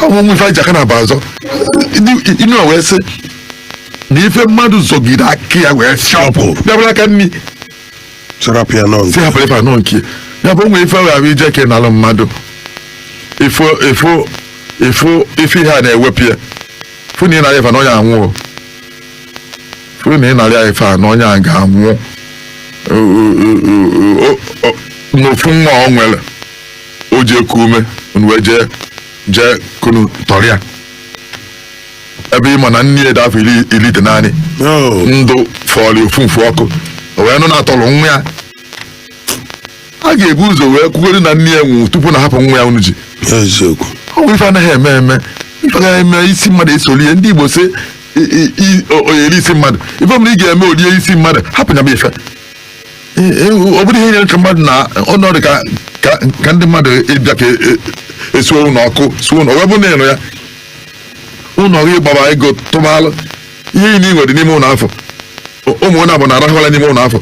A: ha ụmụ ife e ji aka nabọ azọ Ndị- inu a wee sị na ife mmadụ zọgide aka ya wee fịọpụ ya bụrụ aka nri chọrọpụ ya nọ si hapụrụ ife anọ nke ya bụ o nwe ife ahụ i je ka ị nalụ mmadụ ifo ifo ifo ife ihe a na-ewepụ ya fụ na ị nara ife na onye anwụọ fụ na ị nara ife a na onye a ga-anwụ O- o- o- o- o- n'ofu nwa o nwere o ji eku ume unu wee jee jee ka unu tọrọ ya ebe ị ma na nne ya dị afọ iri iri itenanị ndụ fọrọ ya ofu mfụ ọkụ o wee nụ na a tọrọ nwa ya a ga-ebu ụzọ wee kwugoro na nne ya nwụrụ tupu unu ahapụ nwa ya unu ji eziokwu ọ bụ ife anaghị eme eme ife anaghị eme isi mmadụ esolie ndị Igbo si o yere isi mmadụ ife mere ị ga-eme o lie isi mmadụ hapụ nya bụ ife ọ bụrụ ihe nyere ka mmadụ na ọnọdụ ka ka ka ndị mmadụ bịa ka e suo ụlọ ọkụ suo ụlọ wee bụ na ịnụ ya ụlọ gị gbaba ego tụbalụ ihe i nwere dị n'ime ụlọ afụ ụmụ ụlọ abụọ na-arahụ ụla n'ime ụlọ afụ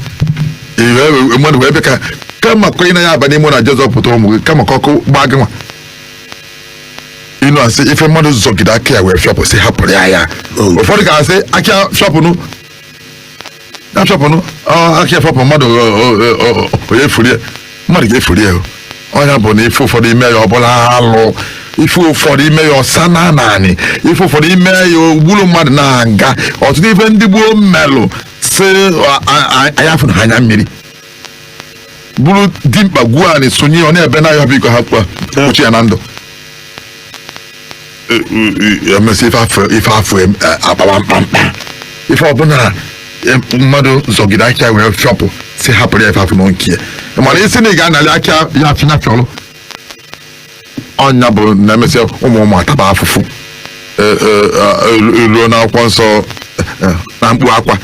A: mmadụ wee bịa ka kama kwenye na ya aba n'ime ụlọ a je zọpụta ụmụ gị kama ka ọkụ gbaa gị nwa inu a sị ife mmadụ zọgide aka ya wee fịọpụ sị hapụrụ ya ya ụfọdụ ga-asị aka fịọpụnụ ya fịọpụnụ ọ, aka afịọpụ mmadụ o- o- o- o- onye furu ya mmadụ ga-efuru ya o. ọ nya bụ na ife ụfọdụ i mee ya ọ bụlụ alụ ife ụfọdụ i mee ya ọ sa na naanị ife ụfọdụ i mee ya o gburu mmadụ na-aga ọtụtụ ife ndị gboo melụ si a- a- a- anya afụna anya mmiri buru dimkpa gwuo anị sonye ya ọ na-ebe na ya biko ha kpụa kpuchie ya na ndụ emesị ife afụ ife afụ em- eh, akpawa mkpamkpa ife ọbụla em, mmadụ zọgide aka ya wee fịọpụ sị hapụrụ ya ife afụ na nke ya mana ị sị na ị ga-anali aka ya afịna fịọlụ ọ nya bụ na emesị ụmụ ụmụ ataba afụfụ Eh, eh, eh, elu- eluo n'akwụkwọ nsọ eh, eh, na mkpu akwa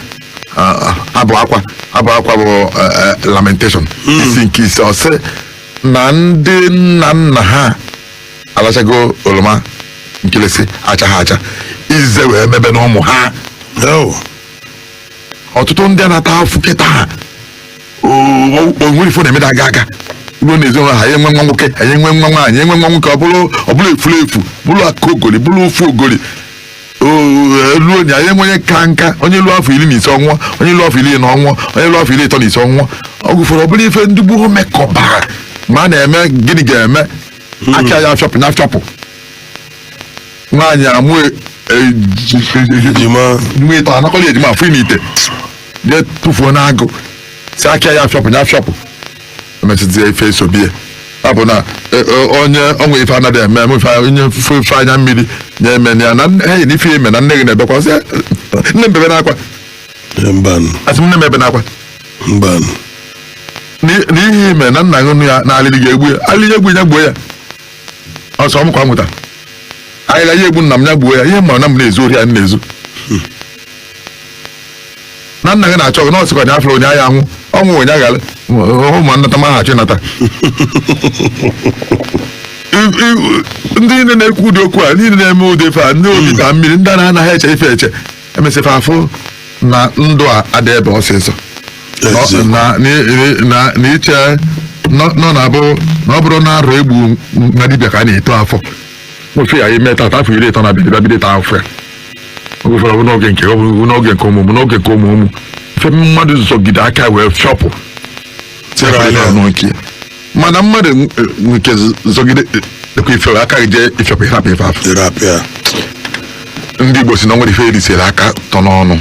A: Ah, ah, abụ akwa abụ akwa bụ eh, eh, lamentation isi nke ise ọ sị na ndị nna nna ha alachago oroma nkịlịsị achaha acha izize wee mebe na ụmụ ha Ew. ọtụtụ ndị a na-ata afụfụ kịta ha o nwere ife ọ na-eme da aga aga ruo na ezinụlọ ha ya enwe nwa nwoke anyị enwe nwa nwaanyị enwe nwa nwoke ọ bụrụ ọ bụrụ efurefu bụrụ akaogori bụrụ ofogori ruo na anyị enwe onye ka nka onye luo afọ iri na ise ọ nwụọ onye luo afọ iri anọ ọ nwụọ onye luo afọ iri ịtọ na ise ọ nwụọ ọ gụfere ọ bụrụ ife ndị gboo mekọbara ma a na-eme gịnị ga-eme aka ya afịọpụ nya afịọpụ nwaanyị amụ ejima nwa ịtọ anakọla ejima afụ n'ime ite jee tụfuo n'agụ sị aka ya afịọpụ nya afịọpụ emesịzie ife esobe ya ọ bụ na e, e, onye o nwe ife anaghị eme eme ife a- onye fụ ife anya mmiri na-eme na ya na nne- enyi na ife eme na nne gị na-ebe akwa ọ sị nne m bebe n'akwa Ee, mbanụ asị m nne m ebe n'akwa mbanụ N'i- n'ihe ị me na nna gị nụ ya na alịrị gị egbu ya alịrị egbu ya gbuo ya ọsọ m kwa nwụta alịrị ya egbu nna m ya gbuo ya ihe m ma na m na-ezu ori ya m na-ezu na nna gị na-achọ gị na ọ sịkwa nya afụrụ onye ahịa anwụ ọnwụ onye aghara ụmụ nnata ma ha chịnata I- i- ndị niile na-ekwu ụdị okwu a niile na-eme ụdị ife a ndị obi ịta mmiri ndị a na-anaghị eche ife eche emesị fa afụ na ndụ a adị ebe ọsịsọ Ezi. na- na- na- na iche nọ nọ na-abụ na ọ bụrụ na arụ egbu na dibịa ka a na-eto afọ ife ị me tata afọ iri ịtọ na-abịa abịa bido taa afụfụ ya oge ụfọdụ ọ bụ n'oge nke ọ bụ n'oge nke ụmụ ụmụ n'oge nke ụmụ ụmụ ife mmadụ zọgide aka wee fịọpụ Tere anya. Tere ọnụ nke ya. mana mmadụ n- nke zọgide ekwe ife aka gị jee ịfịọpụ ịrapụ ife afụ dịrị apịa ndị Igbo sị na o nwere ife erisiri aka tọ n'ọnụ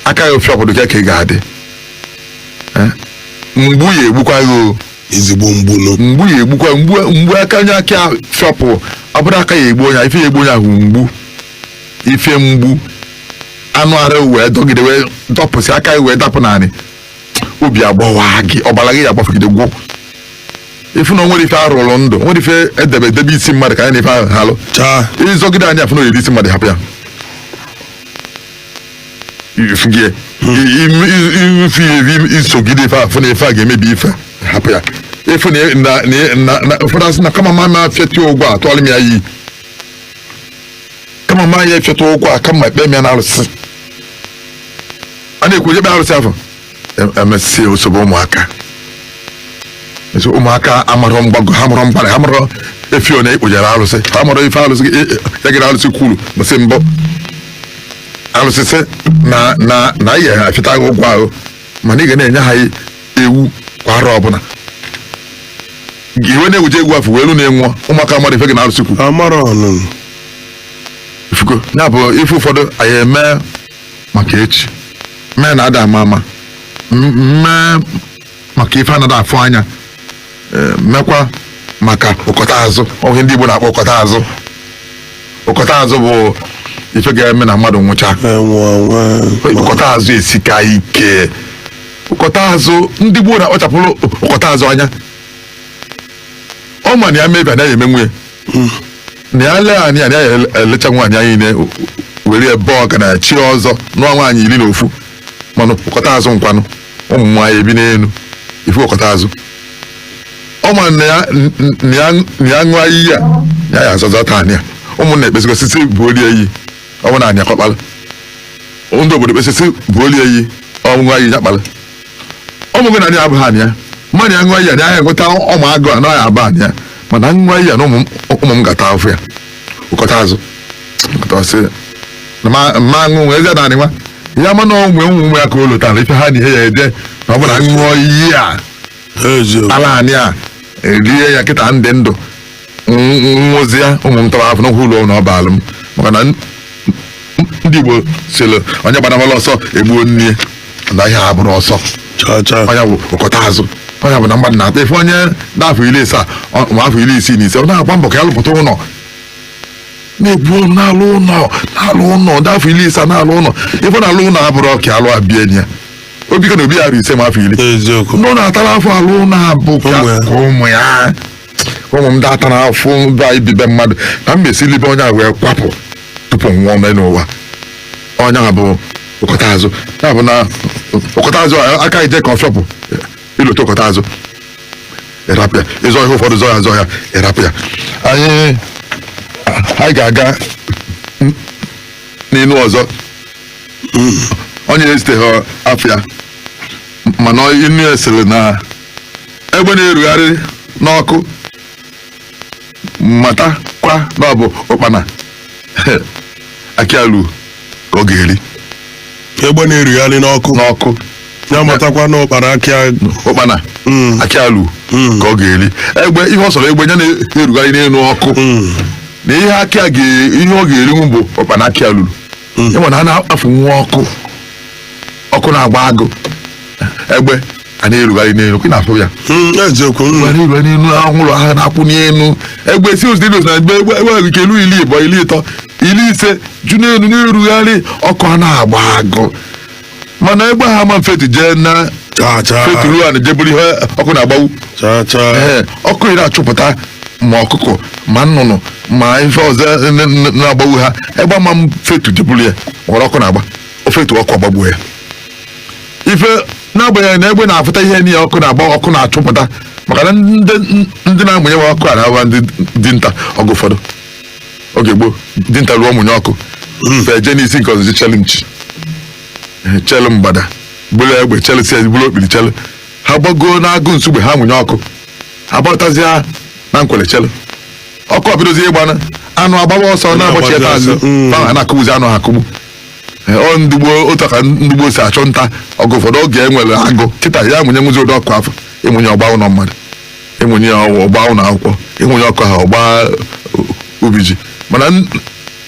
A: aka ya afịọpụ ka ka ị ga-adị Eh? mgbu ya egbukwa gị o ezigbo mgbu
C: nụ mgbu ya egbukwa
A: mgbu mgbu aka onye aka ya fịọpụ ọ bụrụ aka ya egbu onye ahụ, ife ya egbu onye ahụ mgbu ife mgbu anụ arụ wee dọgide wee dọpụsị aka ya wee dapụ naanị obi agbawa gị ọbara gị ya agbafugide gwụ ị fụ na o nwere ife arụrụ ndụ o nwere ife edebe edebe isi mmadụ ka anyị na ife ahụ halụ chaa ịzọgide anyị afụ na oyiri isi mmadụ hapụ ya ifu gị ifu ya ebi i sogide ife afụ na ife a ga-emebi ife hapụ ya ị fụ na na na na ụfọdụ asị na kama ma ma fịata ụgwọ a tụọrọ m ya iyi kama ma ya afịata ụgwọ a kama ekpe m ya na arụsị a na-ekwu onye kpe arụsị afụ emesịa o sobe ụmụaka Eso ụmụaka amarọ mgbago ha amarọ mgbada ha amarọ efi onye e kpụjere arụsị ha amarọ ife arụsị e- e- ya gịrị arụsị kwuru msị mbụ arụsị sị na na na ihe ha fịata gị ụgwọ ahụ mana ị ga na-enye ha ewu kwa arọ ọbụla i wee na-ebuje ewu afụ wee lu na ị nwụọ ụmụaka amarọ ife gị na arụsị kwuru amara ọnụnụ ị fụgo ya bụ ife ụfọdụ anaghị eme maka echi mee na ada ama ama m- mee maka ife anada afụ anya ee, mekwa maka ụkọta azụ o nwee ndị Igbo na-akpọ ụkọta azụ ụkọta azụ bụ ife ga-eme na mmadụ nwụcha ụkọta azụ esika ike ụkọta azụ ndị gboo na-akpachapụrụ ụkọta azụ anya ọ ma na ya mee ife anaghị eme nwunye na ya lee anya na ya elecha nwaanyị anyị niile were ebe ọ ga na-echi ọzọ nụọ nwaanyị iri na ofu mana ụkọta azụ nkwanụ ụmụ nwaanyị ebi n'elu ị fụ ụkọta azụ ọ ma na ya n- n- na ya na ya ṅụọ iyi a na ya azọ azọta anị a ụmụnna ekpesịgo sị sị bulie iyi ọ ma na anị a ka ọ kpalụ ndị obodo ekpesị sị bulie iyi ọ ṅụọ iyi ya kpalụ ọ mago na anị a abụghị anị ya mana ya ṅụọ iyi a na ya enweta ọ mago na anị a abụghị anị ya mana ṅụọ iyi a na ụmụ m- ụmụ m ga-ata afụfụ ya ụkọta azụ ụkọta ọ sị na ma ma ṅụ nwee eze naanị nwa ya mana onwe ụmụ ụmụ ya ka o lotara ife ha na ihe ya ede na ọ bụ na m ṅụọ iyi a eziokwu ala anyị a erie ya kịta m dị ndụ nwụzie ụmụ m taba afụfụ n'ụkwụ ụlọ na ọ baala m maka na ndị Igbo sịrị onye gbanamala ọsọ egbuo nne ya na ihe a abụrọ ọsọ ọ ya bụ ụkọta azụ ọ ya bụ na mmadụ na-ata ife onye nọ afọ iri ise ma afọ iri isii na ise ọ na-agba mbọ ka ya lụpụta ụlọ na-ebu ọnụ na-alụ ụlọ na-alụ ụlọ ndị afọ iri ise na-alụ ụlọ ife na-alụ ụlọ abụrọ ka ọ alụ abịa enyi ya obi ka na obi ya ri ise ma afọ iri ndị ọ na-atara afụfụ alụ ụlọ bụ ka ụmụ ya ụmụ m ada ata na afụfụ be anyị bibe mmadụ ka m mesi libe onye a wee kwapụ tupu m nwụọ mee n'ụwa onye a bụ ụkọta azụ ya bụ na ụkọta azụ a- aka ije ka ọ fịọpụ i lote ụkọta azụ ị rapụ ya ị zọ ihe ụfọdụ zọ ya zọ ya ị rapụ ya anyị anyị ga-aga n- n'inu ọzọ onye esiteghị afịa mana inu a sịrị na egbe na-erugharị n'ọkụ matakwa na ọ bụ ụkpana aka ya lu ka ọ ga-eri egbe
C: na-erugharị n'ọkụ n'ọkụ ya matakwa na ụkpana aka ya ụkpana Mm. aka ya lu Mm. ka ọ ga-eri egbe ihe ọ sọrọ egbe ya na-erugharị n'elu ọkụ Mm. na ihe aka ya ga- ihe ọ ga-erinwu bụ ụkpana aka ya lulu Mm. ị ma na a na-akpafu nwa ọkụ ọkụ na-agba agụ egbe a na-erugharị n'elu ka ị na-afụ ya Mm, eziokwu mm. were iwe n'elu anwụrụ ahụ na-akwụ n'elu egbe si ụzọ na egbe egbe egbe nwe ike elu ili ịbọ ili ịtọ ili ise ju n'elu na-erugharị ọkụ a na-agba agụ mana egbe ahụ ama mfetu jee na Cha, cha, feturu ana jeburu ihe ọkụ na-agbawu cha, cha. Ee, ọkụ na-achụpụta ma ọkụkọ ma nnụnụ ma ife ọzọ n- n- na-agbagbu ha egbe ama mfetu jeburu ya n'ebe ọkụ na-agba o fetu ọkụ agbagbuo ya ife n'agbanyeghị na egbe na-afụta ihe niile ọkụ na-agba ọkụ na-achụpụta maka na ndị ndị na-amụnye nwa ọkụ a na-abụ ndị dinta oge ụfọdụ oge gboo dinta ruo mụnye ọkụ fa eje n'isi nke ọzọ chelu nchi chelu mgbada buru egbe chelu si buru okpiri chelu ha gbagoo n'agụ Nsugbe ha mụnye ọkụ ha gbarụtazịa na Nkwele chelu ọkụ ebidozie ịgba anụ anụ agbaba ọsọ na-agbachi ebe azụ Mm. fa na-akụgbuzi anụ ha akụgbu Ee, ọ ndị gboo otu a ka ndị gboo si achụ nta oge ụfọdụ oge e nwere agụ kịta a ya-amụnyenwuzi ụdị ọkụ afụ ị mụnye ọ gbaa ụlọ mmadụ ị mụnye ya ọkụ ọ gbaa ụlọ akwụkwọ ị mụnye ọkụ ahụ ọ gbaa ubi ji mana n-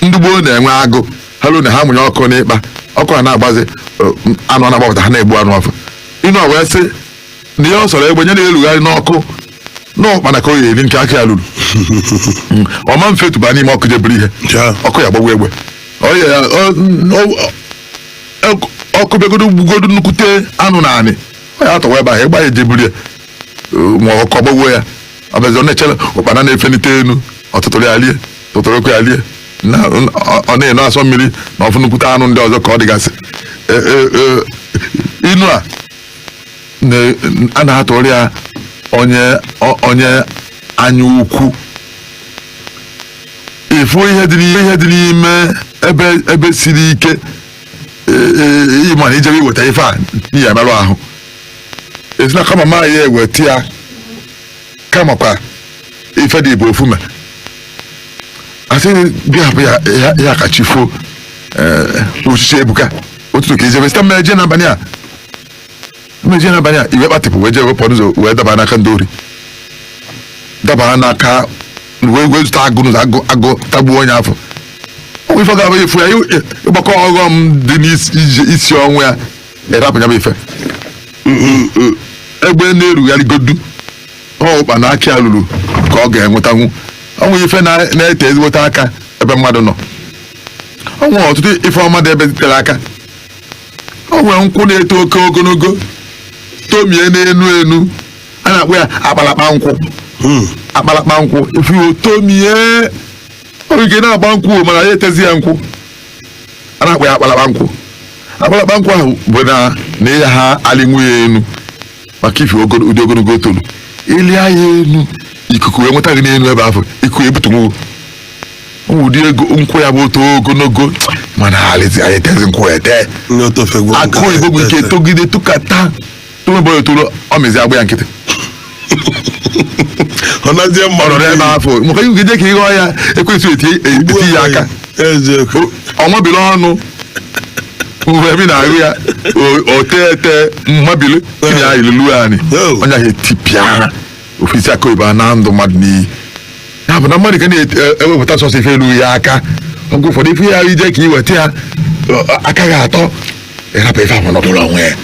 C: ndị gboo na-enwe agụ ha ruo na ha mụnye ọkụ n'ịkpa ọkụ a na-agbazi eh, m- anụ a na-agbapụta ha na-egbu anụ afụ inu wee sị na ihe ọ sọrọ egbe nya na-erugharị n'ọkụ na ụkpana ka ọ ya-eri nke aka ya luru ọ ma mfetuba n'ime ọkụ jeburu ihe Ja. ọkụ ya-agbagbu egbe Ọ ya- ya- ọ- ọ- ọ- ọkụ bịagodo gbugodo nnukwute anụ n'anị ọ ya-atọwa ebe ahụ egbe ya ejeburu ya ma ọkụ agbagbuo ya ọ bụzi ọ na-echere ụkpana na-efenite elu ọ tụtụrụ ya lie tụtụrụkwa ya lie na ọ- ọ na-eno asọ mmiri na ọ fụ nnukwute anụ ndị ọzọ ka ọ dịgasị E- e- e, inu a na- a na-atụrụ ya onye o- onye anya ukwu ị fụ ihe dị n'ime ihe dị n'ime ebe ebe siri ike e- e- ị ma na i jebe iweta ife a na ị ya-emerụ ahụ esi na kama ma ya-eweta ya kamakwa ife dị ibu ofume a sị gị hapụ ya ya- ya ka chi fo uchichi ebuka ụtụtụ ka i jebe site mmeje n'abalị a mmezie n'abalị a i wee kpatịpụ wee jee wee pụ n'ụzọ wee daba n'aka ndị ori dabara n'aka wee wee zute agụ n'ụzọ agụ agụ tagbuo onye afụ o nwee ife ga-abụ efu ya ị- ị- ịgbakọ ọghọm dị n'isi ije- isi ọnwụ ya ịrapụ ya bụ ife egbe na-erugharịgodu ọkpa na aka ya ruru ka ọ ga-enwetanwu o nwee ife na- na-ete ezigbote aka ebe mmadụ nọ o nwee ọtụtụ ife ọma dị ebe tere aka o nwere nkwụ na-eto oke ogologo tomie n'enu enu a na-akpọ ya akpalakpa nkwụ Hmm. akpalakpa nkwụ ị fụ ya tomie ọ ga na-agba nkwụ o, mana ya etezi ya nkwụ a na-akpọ ya akpalakpa nkwụ akpalakpa nkwụ ahụ bụ na ị yaha alịnwu ya enu maka ife ogolo- ụdị ogologo o tolu ịlị ya elu ikuku wee nweta gị n'elu ebe afụ ikuku ebutunwu ụmụ ụdị ego nkwụ ya bụ o to ogologo mana alịzi anyị etezi nkwụ ete ndị otofegwu akụ oyibo bụ nke togide tụkata tụmebọ ya toro ọ mezi agba ya nkịtị ọ nazie mma ọ nọdụ ebe afụ maka i jee ka ị ghọ ya ekwesịghị eti eti ya aka eziokwu ọnwabiri ọnụ mgbe ebe ị na-ahụ ya o- o tee ete mmabili tinye ya ilulu anyị Oh. onye ahụ etipịara ofisi akụ oyibo anaa ndụ mmadụ n'iyi ya bụ na mmadụ ka na-ewepụta sọsọ ife lulu ya aka oge ụfọdụ ị fụ ya i jee ka i weta ya ọ- ọ- aka gị atọ ị rapụ ife ahụ nọdụrụ onwe ya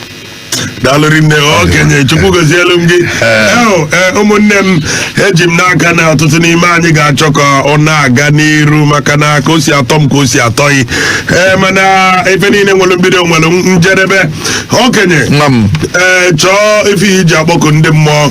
D: daalụ rinne okenye chukwu gozielu m gị Eo, e, ụmụnne m eji m n'aka na ọtụtụ n'ime anyị ga-achọ ka ọ na-aga n'iru maka na ka o si atọ m ka o si atọ gị ee mana ife niile nwere mbido nwere njedebe okenye Nwa m. ee chọọ ife i ji akpọku ndị mmụọ